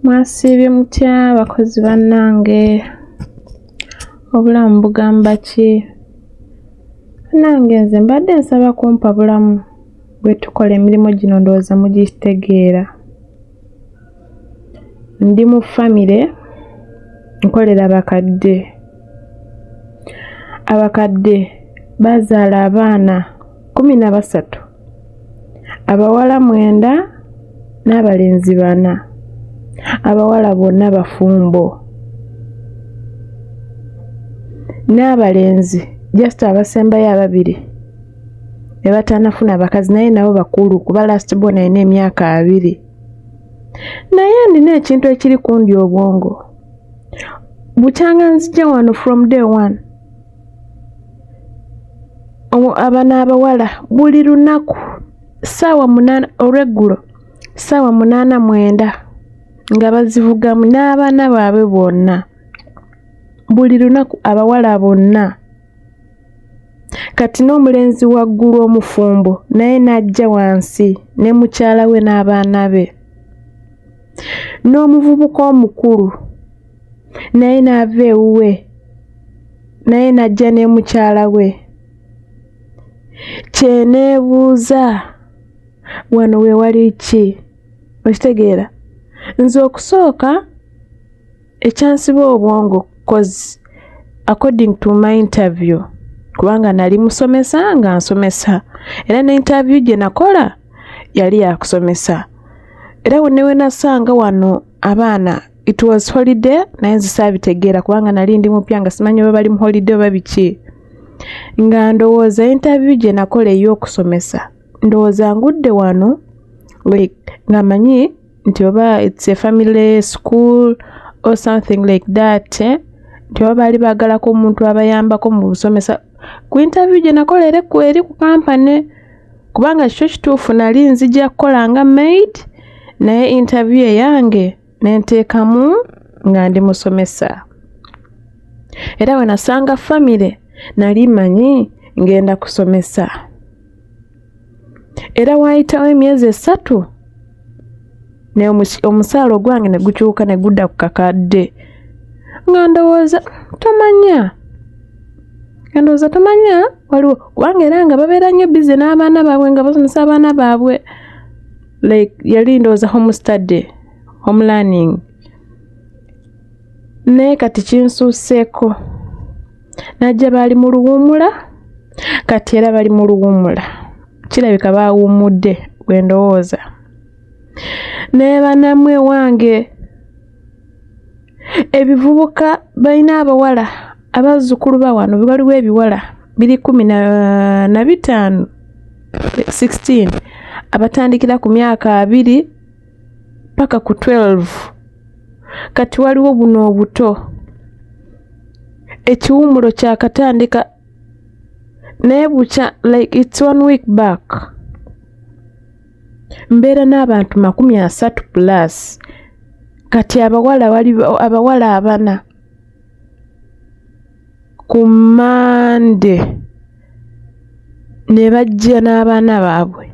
mwasiibye mutya bakozi bannange obulamu bugamba ki nange nze mbadde nsaba kumpa bulamu bwe tukola emirimu gino ndowooza mugitegeera ndi mu famire nkolera bakadde abakadde bazaala abaana kumi na basatu Abawala mwenda n'abalenzi bana. Abawala bonna bafumbo n'abalenzi just abasembayo ababiri ne batanafuna bakazi naye nabo bakulu kuba last born alina emyaka abiri. Naye nina ekintu ekiri kundi obwongo. Bukyanga nzija wano from day one. abana abawala buli lunaku saawa munana olweggulo saawa munana mwenda nga bazivugamu n'abaana baabwe bonna buli lunaku abawala bonna kati n'omulenzi waggulu omufumbo naye n'ajja wansi ne mukyala we n'abaana be n'omuvubuka omukulu naye n'ava ewuwe naye n'ajja ne mukyala we kyeneebuuza wano we wali ki okitegeera nze okusooka ekyansiba obwongo cause according to my interview kubanga nali musomesa nga nsomesa era ne interview gye nakola yali yakusomesa era wenewenasanga wano abaana it was holiday naye nze saabitegeera kubanga nali ndi mupya nga simanyi oba bali mu holiday oba biki nga ndowooza interview gye nakola ey'okusomesa ndowooza ngudde wano like nga manyi nti oba its a family school or something like that eh? nti oba baali baagalako omuntu abayambako mu busomesa ku interview gye nakola ere ku eri ku kampane kubanga kikyo kituufu nali nzija kukola nga maid naye interview eyange ne nteekamu nga ndi musomesa era bwe nasanga famire nali manyi ngenda kusomesa era waayitawo emyezi esatu ne omusaala ogwange ne gukyuka ne gudda ku kakadde nga ndowooza tomanya nga ndowooza tomanya waliwo kubanga era nga babeera nnyo bize n'abaana baabwe nga basomesa abaana baabwe like yali ndowooza home study home learning naye kati kinsuuseeko najja baali mu luwumula kati era bali mu luwumula kirabika baawummudde bwe ndowooza naye banamwe wange ebivubuka balina abawala abazzukulu ba wano waliwo ebiwala biri kumi na bitaano 16 abatandikira ku myaka abiri paka ku 12 kati waliwo buno obuto ekiwumulo kyakatandika naye bukya like its one week back mbeera n'abantu makumi asatu plus kati abawala wali abawala abana ku mande ne bajja n'abaana baabwe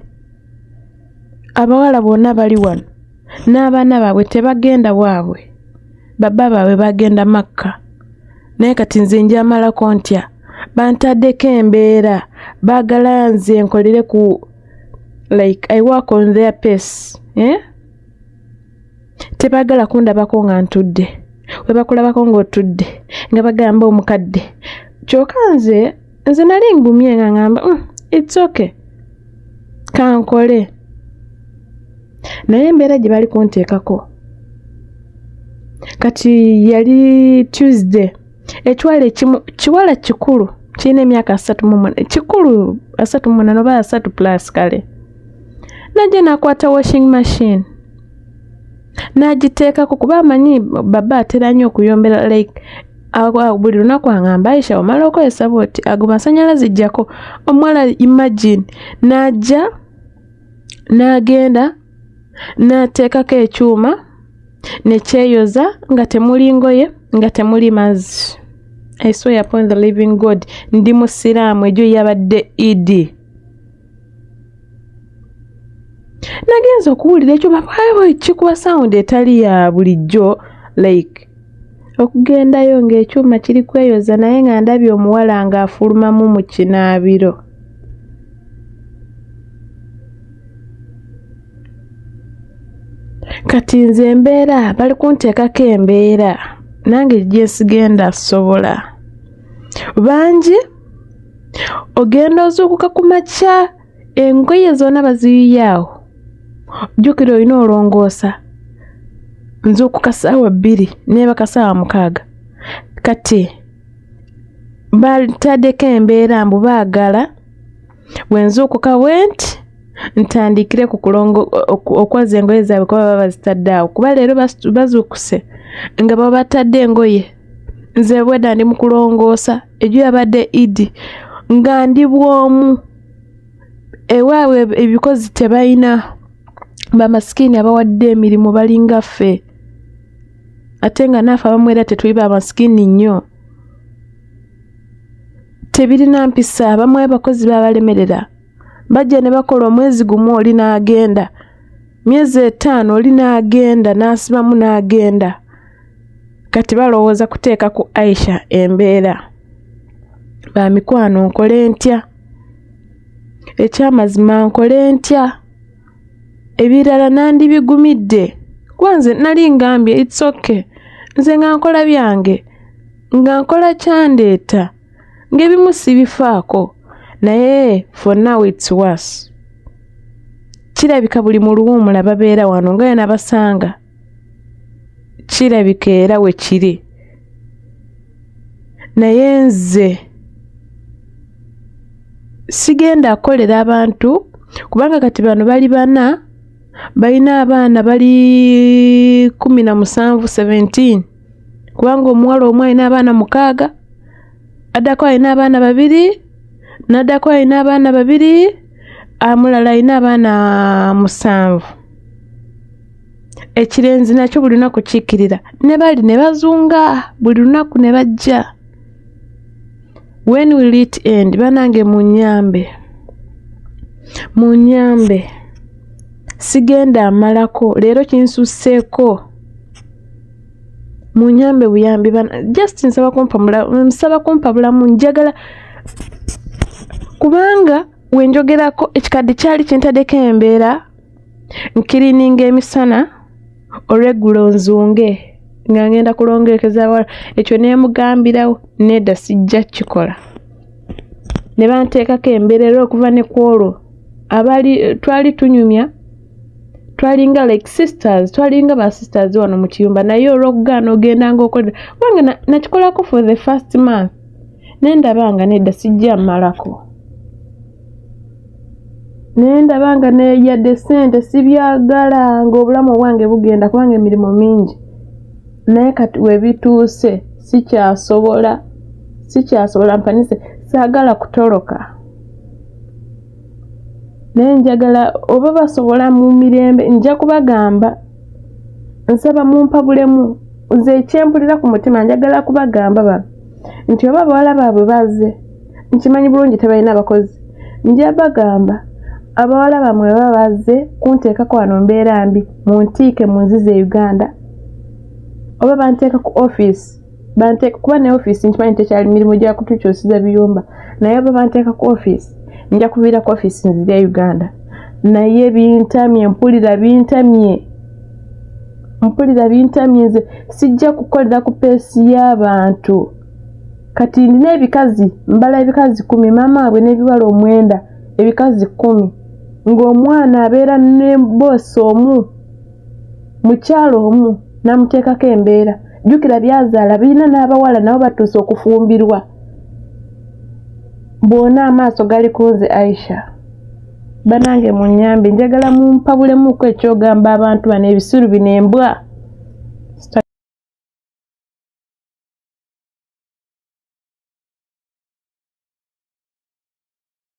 abawala bonna bali wano n'abaana baabwe tebagenda waabwe baba baabwe bagenda makka naye kati nze njamalako ntya bantaddeko embeera baagala nze nkolere ku like i work on their pace eh? tebagala kundabako nga ntudde webakulabako ngaotudde nga bagamba omukadde kyoka nze nze nali ngumye nga ngamba mm, its okay kankole naye embeera gye bali kunteekako kati yali tuesday ekiwala ekimu kiwala kikulu kirina emyaka asatu mumuna kikulu asatu mumunana oba asatu plus kale najja nakwata washing machine nagiteekako kuba amanyi baba atera nnyo okuyombera like buli lunaku angamba aisha omala okozesa bwoti ago masanyalaze jjako omuwala imagine najja nagenda n'ateekako ekyuma ne kyeyoza nga temuli ngoye nga temuli mazzi i swear upon the living god ndi musiraamu egyo yabadde idi nagenza okuwulira ekyo babawo ekikuba sawundi etali ya bulijjo like okugendayo ng'ekyuma kiri kweyoza naye nga ndabye omuwala ng'afulumamu mu kinaabiro kati nze embeera bali kunteekako embeera nange gyesigenda sobola bangi ogenda ozuukuka ku makya engoye zona baziyiyaawo jjukira olina olongoosa nzuukuka saawa bbiri neebaka saawa mukaaga kati bataddeko embeera mbu baagala bwe nzuukuka bwenti ntandikire ku kulongo okwaza engoye zaabwe kuba baba bazitadde awo kuba leero bazuukuse nga baba batadde engoye nze bwedda ndi mu kulongoosa ejo yabadde idi nga ndi bwomu ewaabwe ebikozi tebalina bamasikini abawadde emirimu balinga ffe ate nga naafe abamu era tetuli bamasikini nnyo tebirina mpisa abamu abakozi babalemerera bajja ne bakola omwezi gumu oli n'agenda myezi etaano oli n'agenda n'asibamu n'agenda kati balowooza kuteeka ku aisha embeera ba mikwano nkole ntya ekyamazima nkole ntya ebirala nandibigumidde kuba nze nali ngambye its okay nze nga nkola byange nga nkola kyandeeta ng'ebimu sibifaako naye for now its worse kirabika buli muluwuumula babeera wano nga yona basanga kirabika era we kiri naye nze sigenda akolera abantu kubanga kati bano bali bana balina abaana bali kumi na musanvu 17 kubanga omuwala omu alina abaana mukaaga addako alina abaana babiri n'addako alina abaana babiri amulala alina abaana musanvu ekirenzi nakyo buli lunaku kiikirira ne bali ne bazunga buli lunaku ne bajja when will it end banange munyambe munyambe sigenda amalako leero kinsusseeko munyambe buyambi bana just nsaba kumpamula nsaba kumpabulamu njagala kubanga wenjogerako ekikadde kyali kintadeko embeera nkirininga emisana olweggulo nzunge nga ngenda kulongerekeza wala ekyo nemugambirawo nedda sijja kukikola ne banteekako embeera era okuva ne kwolwo abali twali tunyumya twalinga like sisters twalinga ba sisters wano mu kiyumba naye olwokugaana ogendanga okolera kubanga nakikolako for the first month naye ndabanga nedda sijja mmalako naye ndabanga neyadde sente sibyagala nga obulamu obwange bugenda kubanga emirimu mingi naye kati webituuse sikyasobola sikyasobola mpanise saagala kutoloka naye njagala oba basobola mu mirembe nja kubagamba nsaba mumpabulemu nze ekyempulira ku mutima njagala kubagamba ba nti oba abawala baabwe baze nkimanyi bulungi tebalina abakozi nja bagamba abawala bamwe baba baze kunteekako wano mbeera mbi muntiike munzize e uganda oba banteeka ku office banteeka kuba ne ofiisi nkimanyi tekyali mirimu gya kutukyusiza biyumba naye oba banteeka ku ofiisi nja kuviira ku ofiisi nzirya uganda naye bintamye mpulira bintamye mpulira bintamye nze sijja kukolera ku peesi y'abantu kati ndina ebikazi mbala ebikazi kumi maama wabwe n'ebiwala omwenda ebikazi kumi ng'omwana abeera ne boosi omu mukyalo omu namuteekako embeera jjukira byazaala birina n'abawala nabo batuuse okufumbirwa bwona amaaso gali ku nze aisha banange munyambe njagala mumpabulemuko ekyogamba abantu bano ebisiru bino embwa